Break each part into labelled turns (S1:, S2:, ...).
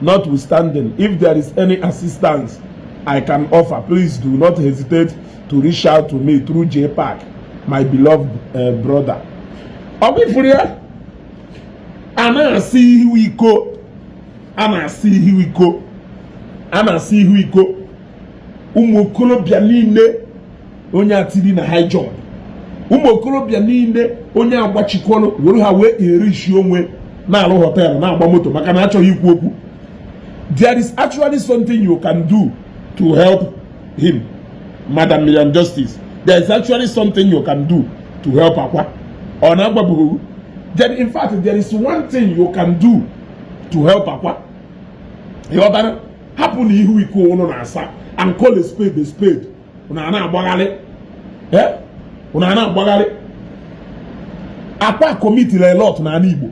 S1: Notwithstanding, if there is any assistance I can offer, please do not hesitate to reach out to me through JPAC, my beloved uh, brother. Ọ bụ ị fụrụ ya? A na-asa ihu iko. A na-asa ihu iko. A na-asa ihu iko. Ụmụ okolobịa niile onye a tiri na high jump ụmụ okolobịa niile onye agbachikwanụ were ha wee enrich onwe na-alụ hotel na-agba moto maka na achọghị ikwu okwu there is actually something you can do to help him madam million justice there is actually something you can do to help akwa ọ na-agbabughị then in fact there is one thing you can do to help akwa ị ghọtara hapụnụ ihu iko ụnụ na-asa and call a spade a spade unu ana-agbaghalị unu ana-agbaghalị akwa commitiri a lot n'Igbo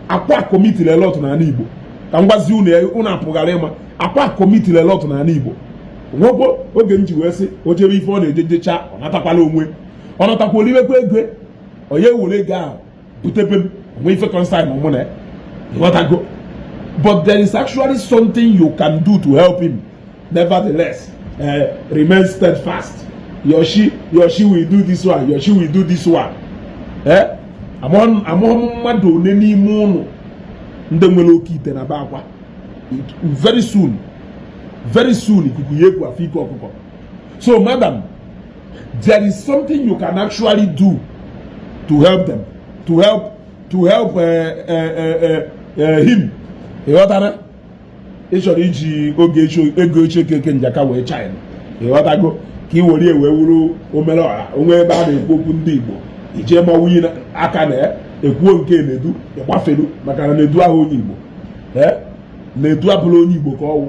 S1: akwa commitiri a lot n'Igbo ka m gwazi unu unu apụghara ịma akwa commitiri a lot n'Igbo nwekwo oge m ji wee sị o jebe ife ọ na-eje jecha ọ natakwala onwe ọ natakwa o liwekwa ego onye were ego ahụ bute be m o nwe ife concern mụ na ị ghọtago but there is actually something you can do to help him nevertheless uh, remain steadfast your chi your chi will do this one your chi will do this one eh? amụghị m mmadụ one n'ime ụnụ ndị nwere oke ite na be akwa very soon very soon ikuku ya-eku a fụ ike ọkụkọ so madam there is something you can actually do to help them to help to help uh, uh, uh, uh, him ị ghọtara ị chọrọ iji oge ego eche keke njaka wee shine ị ghọtago ka ị were wee wuru omere ọha o nwe ebe a na-ekwu okwu ndị igbo ije ma nwunye aka na ekwuo nke Nedu ị gbafelu maka na Nedu ahụ onye igbo Nedu abụrọ onye igbo ka ọ wụ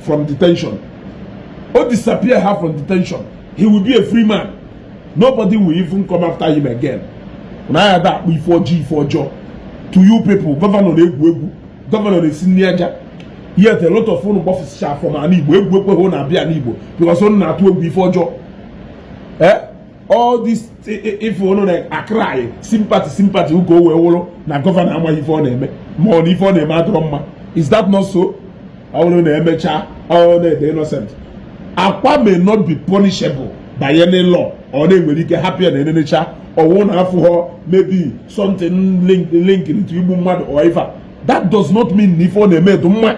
S1: from detention ọ disappear-a from detention he will be a free man nobody will even come after him again na ya da akpụ ife ọjọọ ife ọjọọ to you people governor na-egwu egwu governor na-esi nri aja yet a lot of unu gbafụsịcha from n'igbo egwu ekweghị unu abịa n'igbo because unu na-atụ egwu ife ọjọọ ee eh? all this ife unu na-acry sympathy sympathy ugo wee wụrụ na governor amaghị ife ọ na-eme ma ọ na ife ọ na-eme adịrọ mma is that not so ọ bụrụ na emechaa ọ dị innocent akwa may not be punishable by any law or na e nwere ike hapụ ya na e nenecha ọwụ na afụghọ maybe something link link to igbu mmadụ or ife that does not mean na ife ọ na-eme dị mma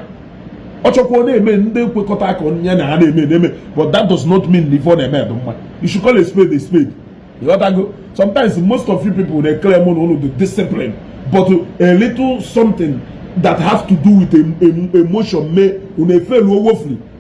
S1: ọ chọkwa ọ na-eme ndị nkwekọta aka onye na ha na-eme na-eme but that does not mean na ife ọ na-eme dị mma you should call a spade a spade ị ghọtago sometimes most of you people dey claim na unu dị discipline but a little something that has to do with emotion mee unu efelu woefully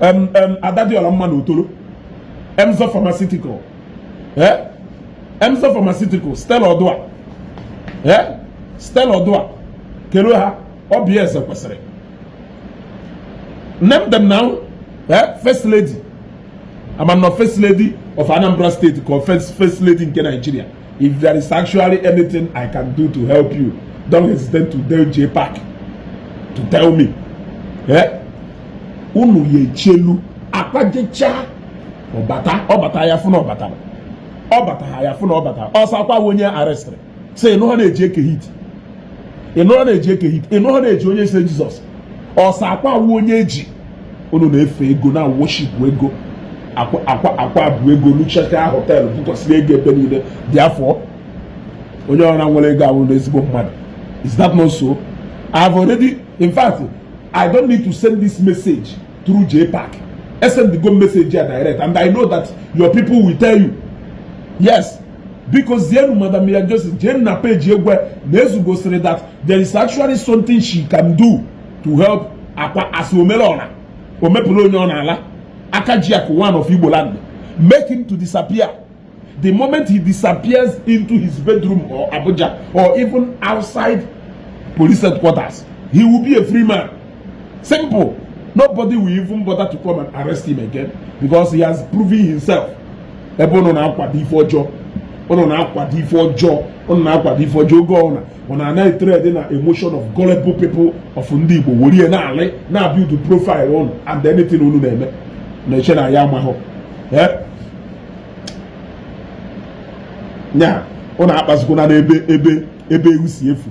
S1: em em ada dị ọla mma na otolo emzor pharmaceutical eh emzor pharmaceutical stella oduah eh stella oduah kele ha oby ezekwesili name them na eh first lady ama m na ọ first lady of anambra state ka ọ first first lady nke nigeria If there is actually anything I can do to help you, don't hesitate to tell JPAC to tell me. Eh? Unu ya echelu Akwa jechaa ọ bata ọ bata a ya-afụ na ọ bata ọ bata ha ya-afụ na ọ bata ọ sọ Akwa wụ onye arrestịrị sị ị nụhọ na e ji Eke Hit ị nụhọ na e ji Eke Hit ị nụhọ na e ji Onye Eze Jizọs ọ sọ akwa wụ onye e ji unu na-efe ego na-worship ego akwa bụ ego lucheta họteelụ bụkwasịrị ego ebe niile therefore onye ọwụla nwere ego awụna ezigbo mmadụ is that not so i have already in fact i don't need to send this message through jpac esendigo m message a direct and i know that your people will tell you yes biko zienu madam Miriam Johnson jee na peji ya gwa ya na Ezugo sịrị that there is actually something she can do to help akwa as omere ọra omepụrụ onye ọ na-ala Akajiakụ one of Igbo land make him to disappear the moment he disappears into his bedroom or Abuja or even outside police headquarters he will be a free man Simple. Nobody will even bother to come and arrest him again because he has proven himself. Ebe ụnụ na-akwado ife ọjọọ ụnụ na-akwado ife ọjọọ ụnụ na-akwado ife ọjọọ oge ọbụla ụnụ ana-atrade na emotion of gullible people of ndị Igbo were ya na-build profile ụnụ and anything ụnụ na-eme na-eche na anyị amahọ eh? nya ụnụ akpazikwana n'ebe ebe ebe ewu si efu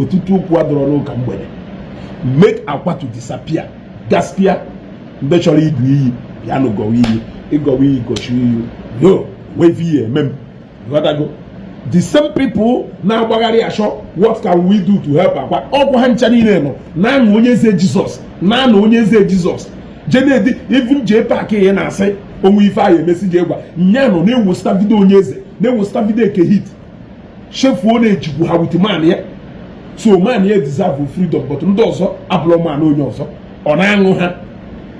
S1: ọtụtụ okwu adịrọ n'ụka mgbede make akwa to disappear gaspia ndị chọrọ ịgọ iyi ya na gọwa iyi ịgọwa iyi gọchi iyi yo wave iyi eme m ghọtago the same people na-agbagharị achọ what can we do to help akwa ọ kwa ha ncha niile nọ na-aṅụ onye eze jizọs na-anụ onye eze jizọs jenedi even JPAC ya na-asị o nwe ife ahụ emesi ji egwa nya nọ na-eposta video onye eze na-eposta video eke hit chefuo na ejikwu ha with man ya so man ya deserve freedom but ndị ọzọ abụrụ man onye ọzọ ọ na-aṅụ ha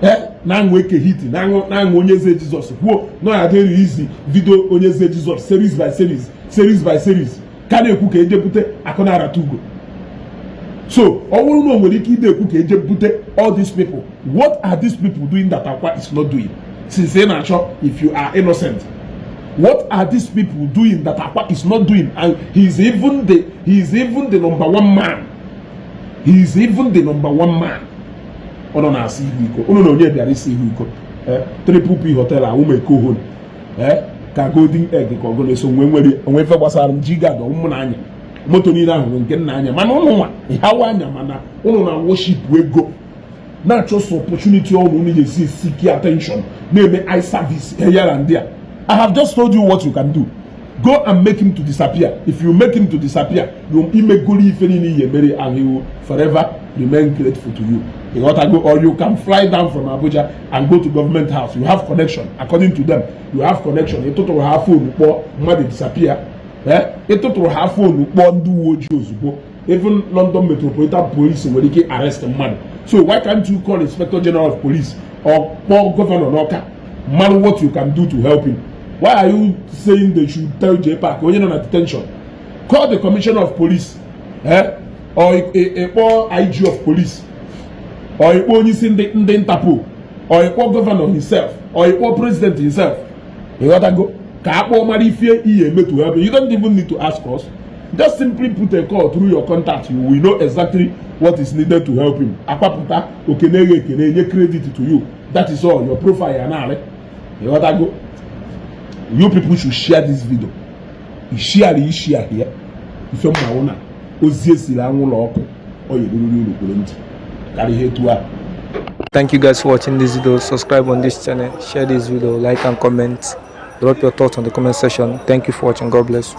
S1: eh, na-aṅụ eke hit na-aṅụ onye eze jizọs kwuo na ọ adịghị izi video onye eze jizọs series by series series by series ka na-ekwu ka eje bute akụ na-arata ugo so ọ bụrụ na o nwere ike ide ekwu ka eje bute all these people what are these people doing that akwa is not doing since ị na-achọ if you are innocent What are these people doing that Akwa is not doing? And he is even the he is even the number one man. He is even the number one man. Unu na-asị ihu iko. Unu na onye bịara isi ihu iko. Eh, Triple P hotel ahụ ma eko hon. Eh, ka golden egg ka ọgụ na-eso nwe nwere onwe ife gbasara m ji ga-adọ mụ n'anya. Moto niile ahụ nke nna anya mana ụnụ nwa ịhawa anya mana ụnụ na worship ego. na-achọsọ opportunity otu unu ga-esi seek attention na-eme eye service here and there I have just told you what you can do go and make him to disappear if you make him to disappear you imegoro ife niile ị ya-emere and he will forever remain grateful to you ịghọtago or you can fly down from Abuja and go to government house you have connection according to them you have connection ịtụtụrụ ha phone kpọọ mmadụ disappear ịtụtụrụ ha phone kpọọ ndị uwe ojii ozugbo even London Metropolitan Police nwere ike arrest mmadụ so why can't you call Inspector General of Police or kpọọ gọvanọ n'ọka mara what you can do to help him why are you saying they should tell JPac onye nọ na detention call the commissioner of police eh? or ịkpọ IG of police or ịkpọ onye isi ndị ndị Interpol or ịkpọ gọvanọ himself or ịkpọ president himself ịghọtago ka akpọ mara ife ị ya-eme to help you don't even need to ask us just simply put a call through your contact you will know exactly what is needed to help him akpapụta okene eghe ekene enye credit to you that is all your profile ya naanị ịghọtago you people should share this video ishare ishare ya ife mmanwụ na ozi esiri anwụlọ ọkụ ọ yerururu uru kwere ntị karịa ihe etu a Thank you
S2: guys for watching this video. Subscribe on this channel, share this video, like and comment. Drop your thoughts on the comment section. Thank you for watching. God bless you.